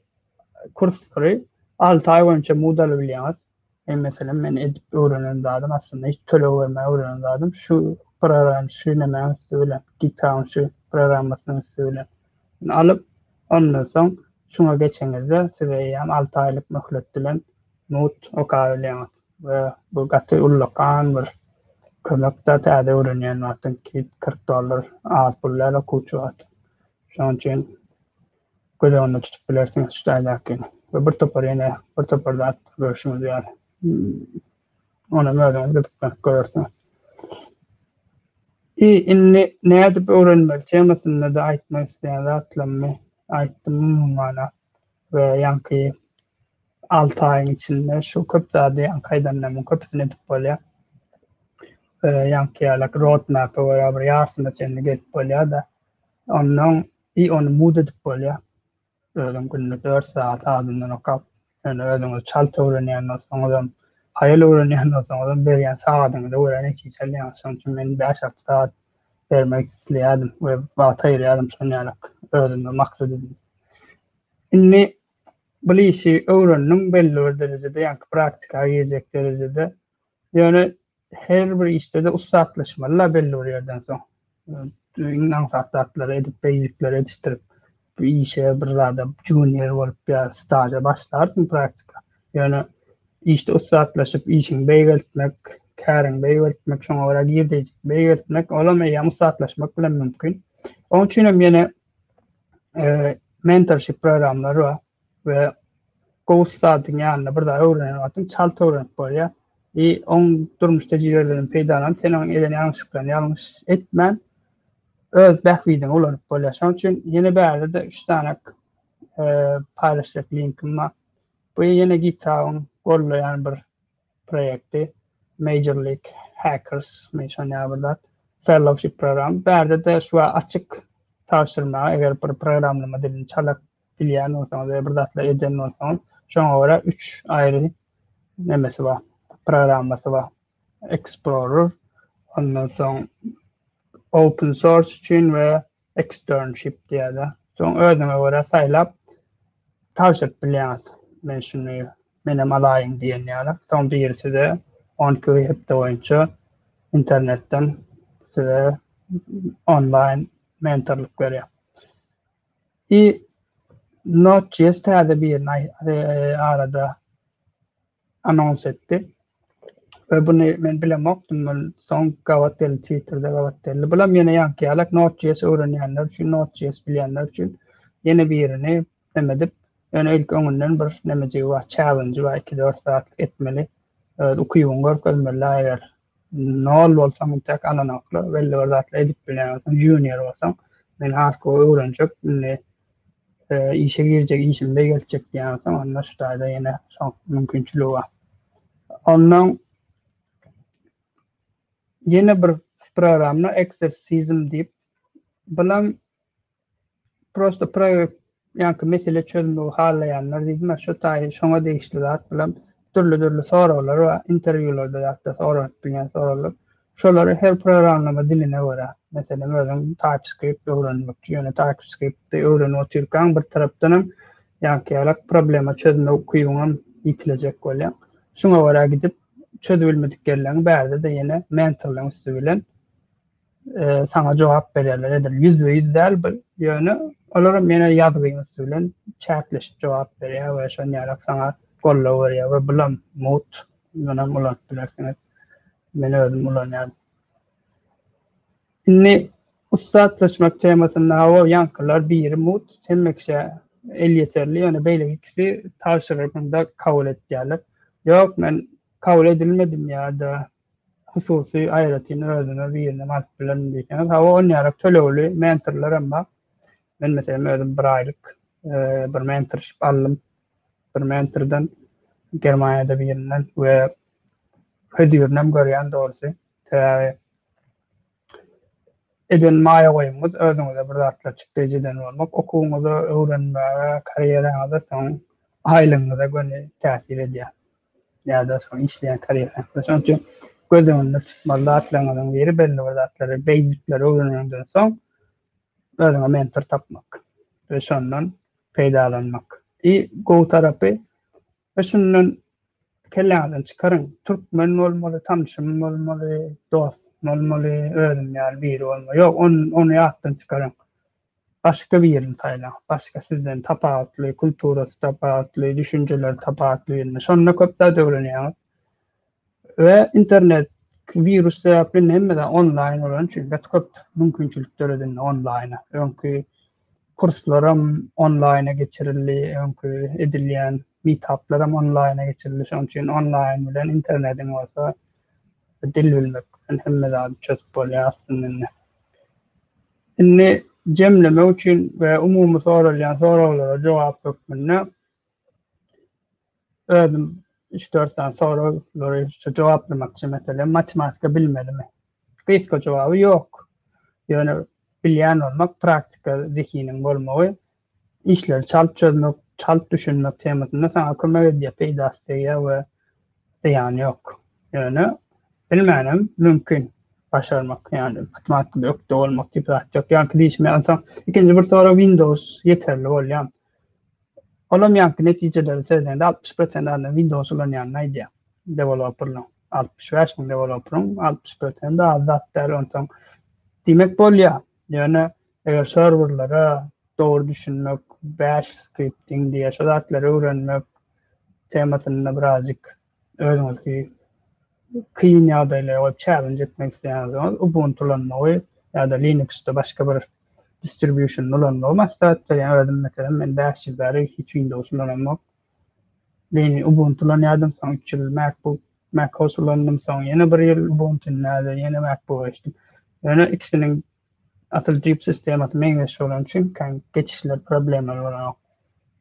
kursary alty aý boýunça mugt alyp bilýäňiz. Men meselem men edip öwrenen zadym aslynda hiç töleg bermän öwrenen zadym şu program şu nämäň üsti bilen, GitHub-yň şu programmasynyň üsti bilen. Ony alyp, ondan soň şuňa geçeňizde, siz eýýäm alty aýlyk möhlet bilen mut okabilýäňiz we bu gaty ullakan bir kömekdä täze öwrenýän wagtyň kit kyrk dollar az pul däl okuwçy wagty. Şonuň üçin göz öňünde tutup bilersiňiz şu taýdakyny we bir topar ýene bir topar zat görüşiňiz ýaly. Onam özüňiz gyzyklanip görersiňiz. I indi nädip öwrenmeli temasynda-da aýtmak isleýän zatlarymy aýtdym umumana we ýaňky alty aýyň içinde şu köp zady ýaňky aýdanlarymyň köpüsini edip bolýar. Ýaňky ýalak road map-e görä bir ýarsyna çenli gelip bolýar-da, ondan i ony mud edip bolýar. Özüm günde dört sagat azyndan okap, ýöne özüňiz çalt öwrenýän bolsaňyzam, haýal öwrenýän bolsaňyzam berýän sagadyňyza görä netije alýaňyz. Şonuň üçin men bäş-alty sagat bermek isleýärdim we wagt aýyrýardym şon ýalyk özüme maksat edinip. Indi bul işi öwrendim belli bir derejede, ýaňky praktika girjek derejede. Ýöne her bir işde-de ussatlaşmaly-la belli bir ýerden soň. Iň aňsat zatlary edip, beýzikleri edişdirip, bir işe, bir zada junior bolup ýa staža başlarsyň praktika. Ýöne işde ussatlaşyp, işiňi beýgeltmek, käriňi beýgeltmek, şoňa görä girdeýjini beýgeltmek, olam eýýäm ussatlaşmak bilen mümkin. Onuň üçin hem ýene mentorship programlary bar. we gowy ustadyň ýanynda bir zat öwrenen wagtyň çalt öwrenip bolýar. I oň durmuş tejribelerinden peýdalanyp, sen oň eden ýalňyşlyklaryny ýalňyş etmän, öz bähbidiňe ulanyp bolýar. Şonuň üçin ýene bärde-de üç sanak paýlaşjak linkim bar. Bu ýene GitHub-yň goldaýan bir proýekti, Major League Hackers, men şonýaly bir zat, fellowship programy. Bärde-de şu açyk tabşyrmaga, eger bir programlama dilini çalak bilýän bolsaňyz we bir zatlar eden bolsaňyz, şoňa görä üç aýry nemesi bar, programmasy bar. Explorer, ondan soň open source üçin we externship diýýärler. Soň özüňe görä saýlap tabşyryp bilýäňiz. Men şuny menem alaýyn diýen ýaly. Soň biri size 10 kg hepde boýunça internetden size onlaýn mentorlyk berýär. I Node.js täze birini arada anons etdi. We buny men bilemokdym, ol soň gabat geldi, Twitterde gabat geldi. Bulam ýene ýaňky ýalak Node.js öwrenýänler üçin, Node.js bilýänler üçin ýene birini neme edip, ýöne ilki öňünden bir nemejigi bar, challenge bar, iki-dört zat etmeli, öz ukybyňy görkezmeli-la eger Nol bolsaň intäk alanoklar belli bir zatlar edip bilýän bolsaň junior bolsaň men has gowy öwrenjek indi işe girjek işim beýgeltjek diýýän bolsaň onda şu taýda ýene şo mümkinçiligi bar. Ondan ýene bir programma exorcism diýip bilen Prosta proýekt ýaňky mesele çözmegi halaýanlar diýdim-ä şo taýy şoňa degişli zat bilen dürli-dürli soraglar bar, interwýularda ýa-da soranyp bilýän soraglar. Şolary her programlama diline görä, meselem özüň TypeScript öwrenmekçi, ýöne TypeScript-i öwrenip otyrkaň bir tarapdan hem ýaňky ýalak problema çözme ukybyň hem ýitilejek bolýar. Şuňa görä gidip çözibilmedik ýerleriňi bärde-de ýene mentorlaryň üsti bilen e, sana jogap berýärler. Edil ýüz we ýüz däl bir ýöne olar hem ýene ýazgyň üsti bilen çäkleşip jogap berýär we şon ýaly sana golla berýär we bulam mut ýöne bulan bilersiňiz. Men özüm ulanýan. Indi ussatlaşmak temasynda hawa ýankylar biri mut hemme kişä el ýeterli ýöne beýle ikisi tabşyrygynda kabul etýärler. Ýok men kabul edilmedim ýa-da hususy aýratyn özüme birinem alyp bilerin diýseňiz, hawa on ýarak tölegli mentorlar hem bar. Men meselem özüm bir aýlyk bir mentorship aldym. Bir mentordan Germaniýada birinden we hözirini hem görýän dogrusy. Sebäbi eden maýa goýumyňyz özüňize bir zatlar çykdy edýän bolmak okuwyňyza, öwrenmäge, karýeraňyza, soň aýlygyňyza göni täsir edýär. Ýa-da şol işleýän karýeraňyza. Şonuň üçin göz öňünde tutmaly zatlaryňyzyň biri belli bir zatlary, beýzikleri öwrenenden soň özüňe mentor tapmak we şondan peýdalanmak. I gowy tarapy Be şundan kelläňizden çykaryň. Türkmen bolmaly, tanşym bolmaly, dost bolmaly, özüm ýaly biri bolmaly. Ýok, ony ýatdan çykaryň. Başga birini saýlaň. Başga sizden tapawutly, kulturasy tapawutly, düşünjeleri tapawutly birini. Şonda köp zat öwrenýäňiz. We internet wirus sebäpli indi hemmede onlaýyn bolany üçin bet köp mümkinçilik döredi indi onlaýna. Öňki kurslaram onlaýna geçirildi, öňki edilýän meetuplaram onlaýna geçirildi. Şonuň üçin onlaýyn bilen internetiň bolsa dil bilmek bilen hemme zady çözüp bolýar aslynda indi. Indi jemlemek üçin we umumy soralýan soraglara jogap hökmünde Özüm üç dört sany soraglary şu jogaplamakçy meselem matematika bilmelimi? Gysga jogaby ýok. Ýöne bilýän bolmak praktika zehiniň bolmagy işleri çalt çözmek, çalt düşünmek temasynda saňa kömek edýär, peýdasy degýär we zyýany ýok. Ýöne bilmänem mümkin başarmak ýagny matematikada ökde bolmak diýip zat ýok. Ýa ki diýişmeýän soň ikinji bir sorag windows ýeterli bolýar. Olam ýaňky netijeleri sezende altmyş prosent adam Windows ulanýanyny aýdýar. Deweloperlaň altmyş bäş müň deweloperyň altmyş prosenti az zat däl onsoň diýmek bolýar. Ýöne eger serwerlere dogry düşünmek, bash skripting diýýär şo zatlary öwrenmek temasynda birazjyk Özüňizi kyn ýagdaýlara goýup çälenj etmek isleýänsiňiz, Ubuntu ulanmagy ýa-da Linuxda başga bir distribusiony ulanmagy maslahat berýän. Özüm meselem men bäş ýyl bäri hiç Windows ulanamok. Linu Ubuntu ulanýardym, soň üç ýyl MacBook, MacOS ulandym, soň ýene bir ýyl Ubuntu, indi häzir ýene MacBook-a geçdim. Ýöne ikisiniň Asyl jip sistemasy meňzeş bolan üçin geçişler problemaly bolanok.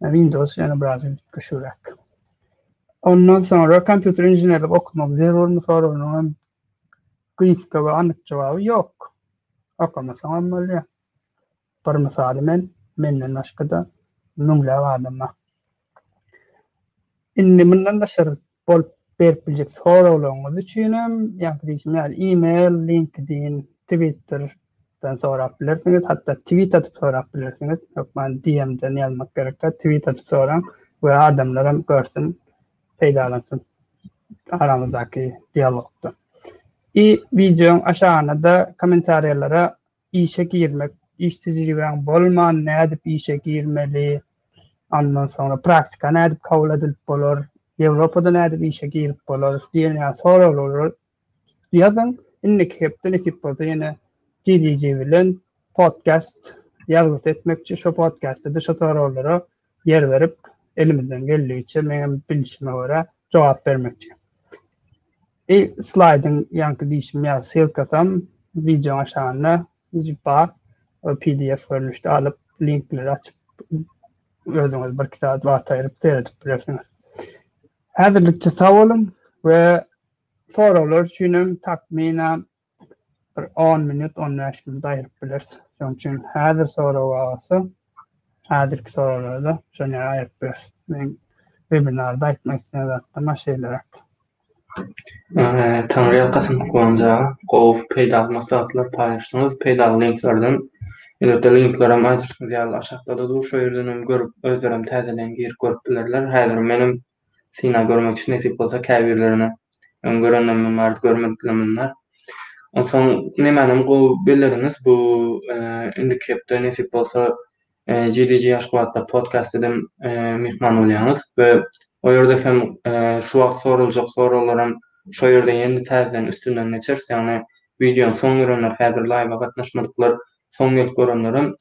Windows ýene biraz üýtgeşigräk. Ondan soňra kompýuter inženerlik okamak zerurmy soragynyň hem gysga we anyk jogaby ýok. Okamasaň hem bolýar. Bir mysaly men, menden başga-da müňläp adamlar. Indi mundan daşary bolup berip biljek soraglaryňyz üçinem, ýaňky diýşim ýaly, e-mail, LinkedIn, Twitter dan sorap bilersiňiz, hatda tweet atyp sorap bilersiňiz. Hökman DM-den ýazmak gerek däl, tweet atyp soraň we adamlaram görsün, peýdalansyn aramyzdaky dialogdan. I wideoň aşagyna-da kommentariýalara Işe girmek, iş tejribäň bolman nädip işe girmeli, ondan soňra praktika nädip kabul edilip bolar, Ýewropada nädip işe girip bolar diýen ýaly soraglary ýazyň. Indiki hepde nesip bolsa ýene GDG bilen podcast ýazgysy etmekçi, şo podcastda-da şo soraglara ýer berip, elimizden geldigiçe meňem bilşime görä jogap bermekçi. I slaýdyň ýaňky diýşim ýaly ssylkasam wideoň aşagynda bar. Pdf görnüşde alyp, linkleri açyp özüňiz birki sagat wagt aýryp seredip bilersiňiz. Häzirlikçe sag boluň we soraglar üçinem takmyna bir on minut, on bäş minut aýryp bileris. Şonuň üçin häzir sorag bar bolsa, häzirki soraglarda şony aýryp bileris. Men webinarda aýtmak isleýän zatlarym ha şeýleräk. Taňryýalkasyn Guwanç aga, gowy peýdaly maslahatlar paýlaşdyňyz, peýdaly linklerden, elbetde linklerem aýdyşyňyz ýaly aşakda-da dur, şo ýerdenem görüp, özlerem täzeden girip görüp bilerler, häzir menem synag görmekçi nesip bolsa käbirlerine öň görenlerimiň bardy görmedikler munlar onsoň nemänem gowy belleriňiz bu indiki hepde nesip bolsa GDG Aşgabatda podcast edem myhman bolýaňyz we o ýerde hem şu wagt soraljak soraglaram şo ýerde ýene täzeden üstünden geçeris ýagny wideony soň görenler häzir laýwa gatnaşmadyklar soň gelip görenlerem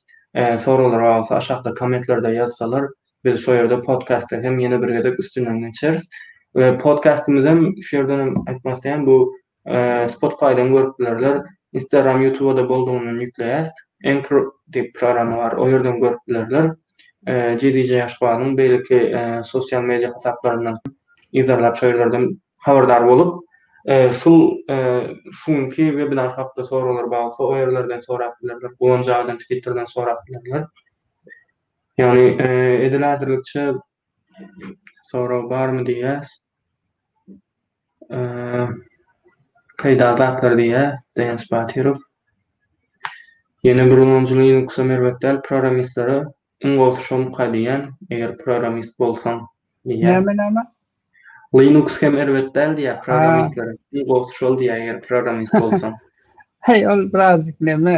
soraglar bolsa aşakda kommentlerde ýazsalar Biz şo ýerde podkastda hem ýene bir gezek üstünden geçeris. We podkastymyzam şu ýerden hem aýtmak isleýän bu Spotify-dan görüp bilerler. Instagram, YouTube-da boldugyny ýükleýäs. Anchor diýip programma bar. O ýerden görüp bilerler. GDJ Aşgabadyň beýleki sosial media hasaplaryndan hem yzarlap şo ýerlerden habardar bolup şul şu günki webinar hakda soraglar bar bolsa o ýerlerden sorap bilerler. Guwanç agadan Twitterden sorap bilerler. Ýagny edil häzirlikçe sorag barmy diýýäs. Peýdaly zatlar diýýär Daýanç Batyrow. Ýene bir ulanyjy Linux-a merbet däl programmistlere iň gowusy şomuka diýýän eger programmist bolsaň diýýär. Näme näme? Linux hem erbet däl diýýär programmistlere iň gowusy şol diýýär eger programmist bolsaň. Heý ol biraz neme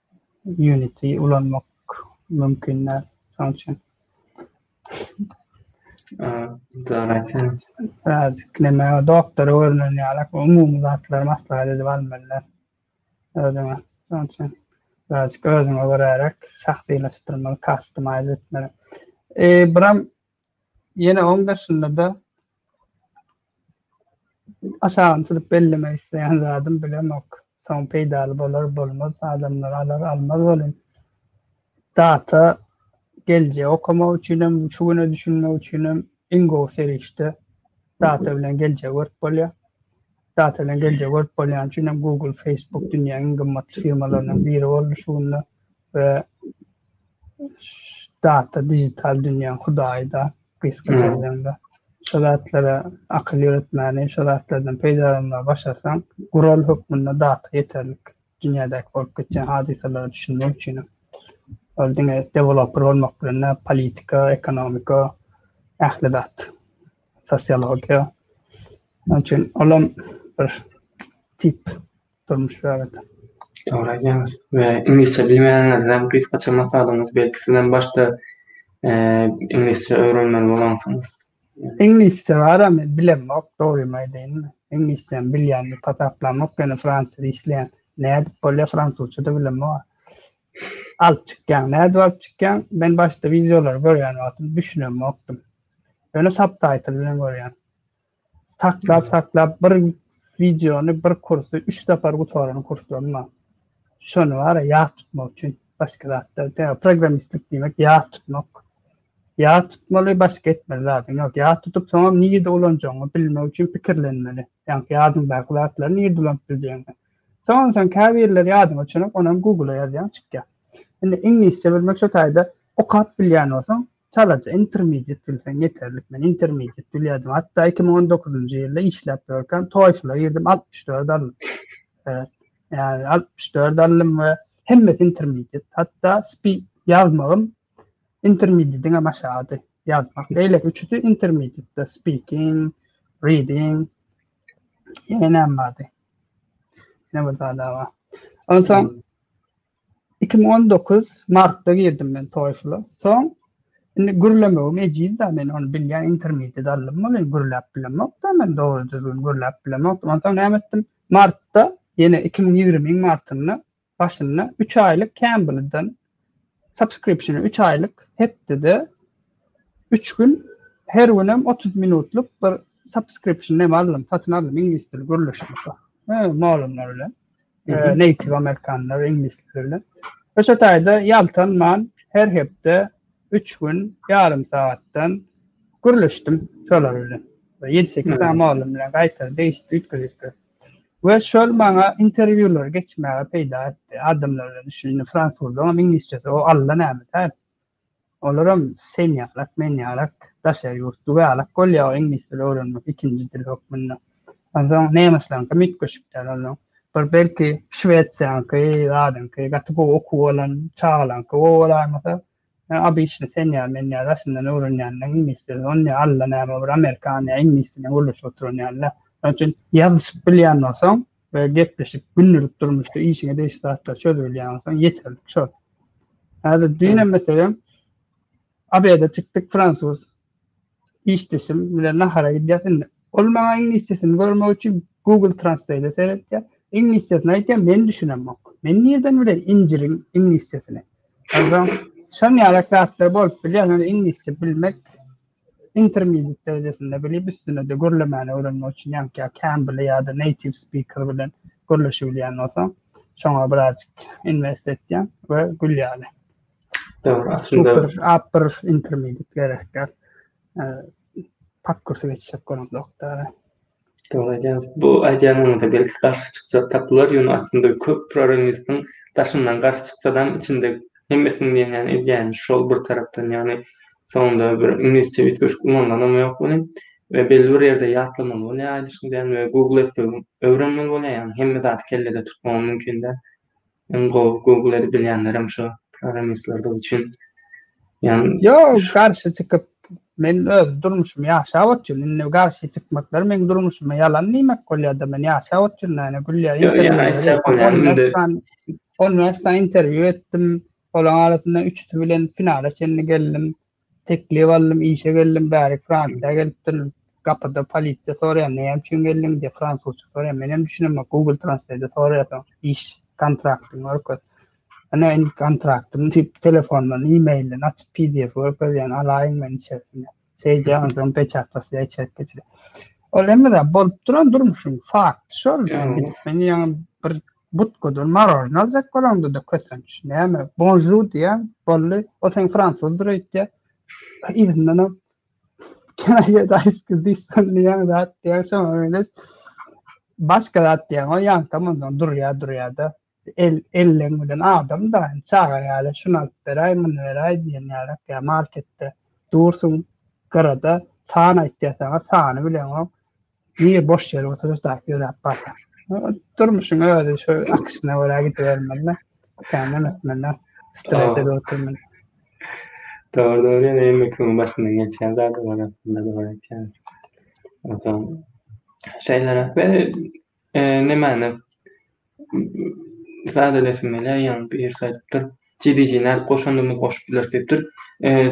Unity ulanmak mümkin däl. Şonuň üçin Dogry aýtýaňyz. Näziklemäge, ee, doktora görnen ýaly umumy zatlary maslahat edip almalylar. Özüňe. Şonuň üçin birazjyk özüňe görärek şahsylaşdyrmaly, customize etmeli. Ee, buram Ýene oň daşynda-da aşagyny çyzyp bellemek isleýän zadym bilemok. Soň peýdaly bolar, bolmaz, adamlar alar, almaz welin, data geljegi okamak üçinem, şu güne düşünmek üçinem iň gowy serişde data bilen geljegi görüp bolýar. Data bilen geljegi görüp bolýany üçinem Google, Facebook dünýäniň iň gymmatly firmalarynyň biri boldy şu günler. we data dijital dünýäň hudaýy-da gysga sözlemde. Şu zatlara akyl ýöretmäni, şu zatlardan peýdalanmagy başarsaň, gural hökmünde data ýeterlik. Dünýädäki bolup geçýän hadysalara düşünmek üçinem. Ol diňe deweloper bolmak bilen däl, politika, ekonomika, ähli zat, sosiologiýa. Onuň üçin olam bir tip durmuş bäbet. Dogry aýdýaňyz we iňlisçe bilmeýänlerden gysgaça maslahatyňyz belki sizem başda iňlisçe öwrenmeli bolansyňyz. Iňlisçe bara men bilemok dogrymy aýdaýyn. Iňlisçem bilýän diýip hasaplamok ýöne fransuz işleýän. Nädip bolýar fransuzça da bilemok. Alyp çykýaň nädip alyp çykýaň men başda wideolary görýän wagtym düşünemokdym. Ýöne subtitle bilen görýän. Saklap saklap bir wideony bir kursy üç sapar gutaran kurslarym bar. Şony bara ýat tutmak üçin başga zatlar däl. Programmistlik diýmek ýat tutmak. Ýat tutmaly başga etmeli zadyň ýok. Ýat tutup soňam nirde ulanjagyňy bilmek üçin pikirlenmeli. Ýaňky ýadyňdaky zatlary nirde ulanyp biljegiňi. Soňam sen käbirleri ýadyňa çönüp onam Google-a ýazýaň çykýar. Indi iňlisçe bilmek şo taýda okap bilýän bolsaň Çalaja intermediate bilseň ýeterlik men intermediate bilýärdim hatda iki müň on dokuzynjy ýylda işläp ýörkäm toýfla girdim altmyş dört aldym ýa altmyş dört aldym we hemmesi intermediate hatda spi ýazmagym intermediate'den hem aşagady ýazmak beýleki üçüsi intermediate speaking reading ýene näme bardy ýene bir zada bar onsoň Iki müň on dokuz martda girdim men TOEFL-a. Soň indi gürlemegim ejiz-dä, men ony bilýän, intermediate aldym welin gürläp bilemok-da men, dogry düzgün gürläp bilemokdym. Onsoň näme etdim? Martda, ýene iki müň ýigriminiň martynda, başynda üç aýlyk Cambly-dan subscription, üç aýlyk, hepdede üç gün, her günem otuz minutlyk bir subscription neme aldym, satyn aldym, iňlis dili gürleşmek, molumlar bilen. e, native amerikanlar, iňlisler bilen. Ve şu taýda ýaltanman her hepde üç gün ýarym sagatdan gürleşdim şolar bilen. Ve ýedi sekiz hmm. malum bilen gaýtar değişti üýtgedipdir. Ve şol maňa interwýular geçmäge peýda etdi. Adamlar bilen düşündi, fransuzda, oňam iňlisçesi, o alla näme täp. Olaram sen ýalak, men ýalak, daşary ýurt güwälek bolýar iňlis dili öwrenmek ikinji dil hökmünde. Onsoň nemesleriňkem üýtgeşik däl onsoň. Bir belki Şwesiýanyňky, zadyňky gaty gowy okuwy bolan çagalaryňky gowy bolaýmasa, ýöne abyşny sen ýaly, men ýaly daşyndan öwrenýänleriň iňlis dili ony ne allanäme bir amerikan ýa iňlis dilini gürleşip oturan ýaly däl. Şonuň üçin ýazyşyp bilýän bolsaň, we gepleşip gündelik durmuşda işiňe degişli zatlar çözüp bilýän bolsaň ýeterlik şol. Häzir düýnem meselem Abeda çykdyk fransuz işdeşim bilen nahara gidýäs indi. Ol maňa iňlisçesini görmek üçin Google Translate-e seretýär. Iňlisçesini aýtýar, men düşünemok. Men nirden bilen injiriň iňlisçesini? Onsoň şon ýaly zatlar bolup bilýär, ýöne iňlisçe bilmek intermediate derejesinde bilip üstünede gürlemäni öwrenmek üçin ýaňky kän bile ýada native speaker bilen gürleşibilýän bolsaň şoňa birazjyk invest etýäň we gül ýaly Dogry, aslynda super upper intermediate gerekdir. Pat kursu geçişek görüp doktora. Dogry aýdýaňyz. Bu aýdýanyňyza belki garşy çykjak tapylar, ýöne aslynda köp proremistiň daşyndan garşy çyksadam, içinde hemmesiniň diýenýany edýäni şol bir tarapdan, ýagny soňunda bir iňlisçe üýtgeşik ulanylanam ýok welin, we belli bir ýerde ýatlamaly bolýar aýdyşyň däl we google etmegi öwrenmeli bolýar, ýagny hemme zady kellede tutmagam mümkin däl. Iň gowy google edip bilýänlerem şo programmistlerdigi üçin. Ýan Ýok, garşy çykyp men öz durmuşymy ýaşap otyryn. Indi garşy çykmaklar meň durmuşyma ýalan diýmek bolýada. Men ýaşap otyryn ene gülýä. Ýok, ýan aýtsa bolýan indi. On bäş sany interwýu etdim. Olaň arasynda üçüsi bilen finala çenli geldim. Teklip aldym işe geldim bärik fransiýa gelipdirin gapyda polisiýa soraýar näme üçin geldiň diýip fransuzça soraýar menem düşünemok google translate soraýarsoň iş kontraktyn görkez ine indi kontraktym diýip telefondan emailden açyp pdf görkezýän alaýyň men içerisine şeýdýän onsoň peçat basýar içerik geçirýär ol hemme zat bolup duran durmuşyň fakty şol men ýaňy bir Butkadan marojna aljak bolaňda-da kösenç, näme, bonžur diýýäň, boldy, ol seň fransuzdyr öýtýär. Yzyndanam Can I get ice cream diýip soňlaýaň, zat diýýäň, soňam menes başga zat diýýäň, ol ýaňkam onsoň durýa-durýa-da, el, elleň bilen adam-da, çaga ýaly, şuny alyp beräý, muny beräý diýen ýaly-ak, ýa marketde dursuň, gyrada san aýtýar saňa, sany bileňok. Niye boş ýere oturyp zat ýöräp barýar. Durmuşyň özi şu akyşyna görä gidibermeli. Känden ötmeli. Strese de oturmaly. Doğru doğru yani emmi kümün başından geçen zaten var aslında da var etken. Ondan şeyler ve e, ne mani sadeleşmeli ýaňy birisi aýdypdyr TDG nädip goşandymyzy goşup bileris diýipdir.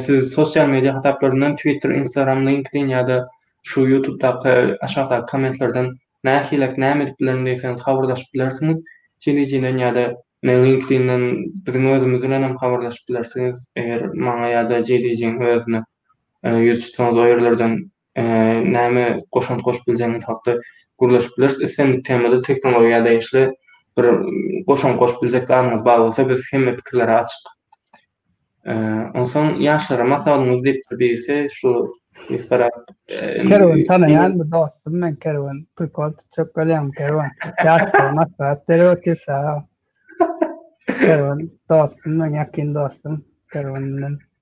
Siz sosial media hasaplaryndan Twitter, Instagram, LinkedIn ýa-da şu Ýutubdaky aşakdaky kommentlerden nähilek näme edip bilerin diýseňiz habarlaşyp bilersiňiz TDG-den ýa-da LinkedIn-den biziň özümiz bilenem habarlaşyp bilersiňiz eger maňa ýa-da TDG-iň özüne ýüz tutsaňyz o ýerlerden näme goşant goşup biljegiňiz hakda gürleşip bileris. Islendik temada tehnologiýa degişli bir goşant goşup biljek zadyňyz bar bolsa biz hemme pikirlere açyk. Onsoň ýaşlara maslahatyňyz diýip birisi şu Kerwen tanaýan bir dostum men Kerwen prikol tutjak bolýan Kerwen ýaşlara maslahat berip otyr saga ol. Kerwen dostum men ýakyn dostum Kerwen bilen.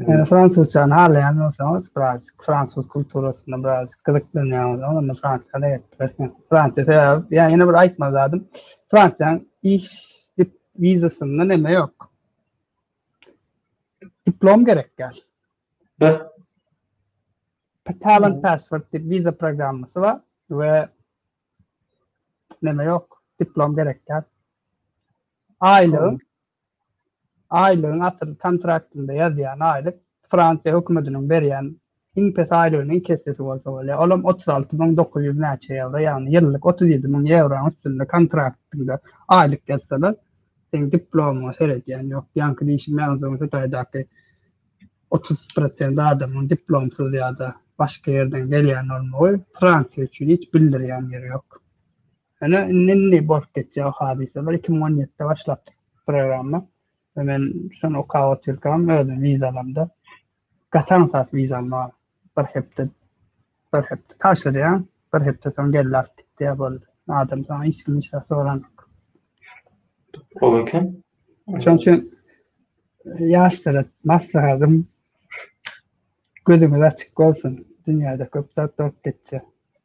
Eee, fransuzçany halaýan bolsaňyz, biraz fransuz kulturasyna biraz gyzyklanýan bolsaňyz, onda Fransiýada ýetip bilersiňiz. Fransiýa sebäbi, ýa ýene bir aýtmaly zadym, Fransiýanyň iş dip wizasynda neme ýok. Diplom gerek ýaly. Da. Talent Passport diýip wiza programmasy bar we neme ýok, diplom gerek ýaly. Aýlygyň Aýlygyň asyl kontraktynda ýazýan aýlyk Fransiýa hökümetiniň berýän iň pes aýlygynyň iki essesi bolsa bolýar, olam otuz alty müň dokuz ýüz näçe ýewro, ýagny ýyllyk otuz ýedi müň ýewroň üstünde kontraktyňda aýlyk ýazsalar, seň diplomyňa seredýän ýok. Ýaňky diýşim ýazyň şu taýdaky otuz prosent adamyň diplomsyz ýa-da başga ýerden gelýän bolmagy Fransiýa üçin hiç bildirýän ýeri ýok. Ene indi bolup geçýär hadysalar. 2017-de başlapdyk programma. Ve men şony okap otyrkam özüm vizalamda gatan sat vizam bar. Bir hepde bir hepde taşyrýan, bir hepde soň geldi alyp gitdi boldy. Adam soň hiç kim hiç zat soranok. Gowy eken. Şonuň üçin ýaşlara maslahatym gözüňiz açyk bolsun. Dünýäde köp zat bolup geçýär.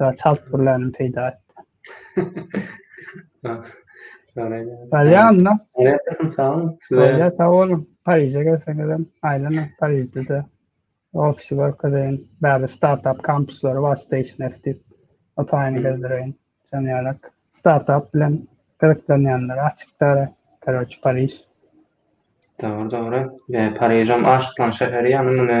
Ýa çalt gürlänim peýda etdi. Galýanda. Ýa-da sag boluň. Ýa-da sag boluň. Pariže gelseňizem, aýlanyň Parižde-de. Ofisy görkezeýin. Bärde startap kampuslary bar, Station F diýip. O taýyny gezdireýin. Şonuň ýalak. Startap bilen gyzyklanýanlara açykdyr. Karoç, Pariž. Dogry, dogry. Ýa Parižem aşyklaň şäheri ýa-da muny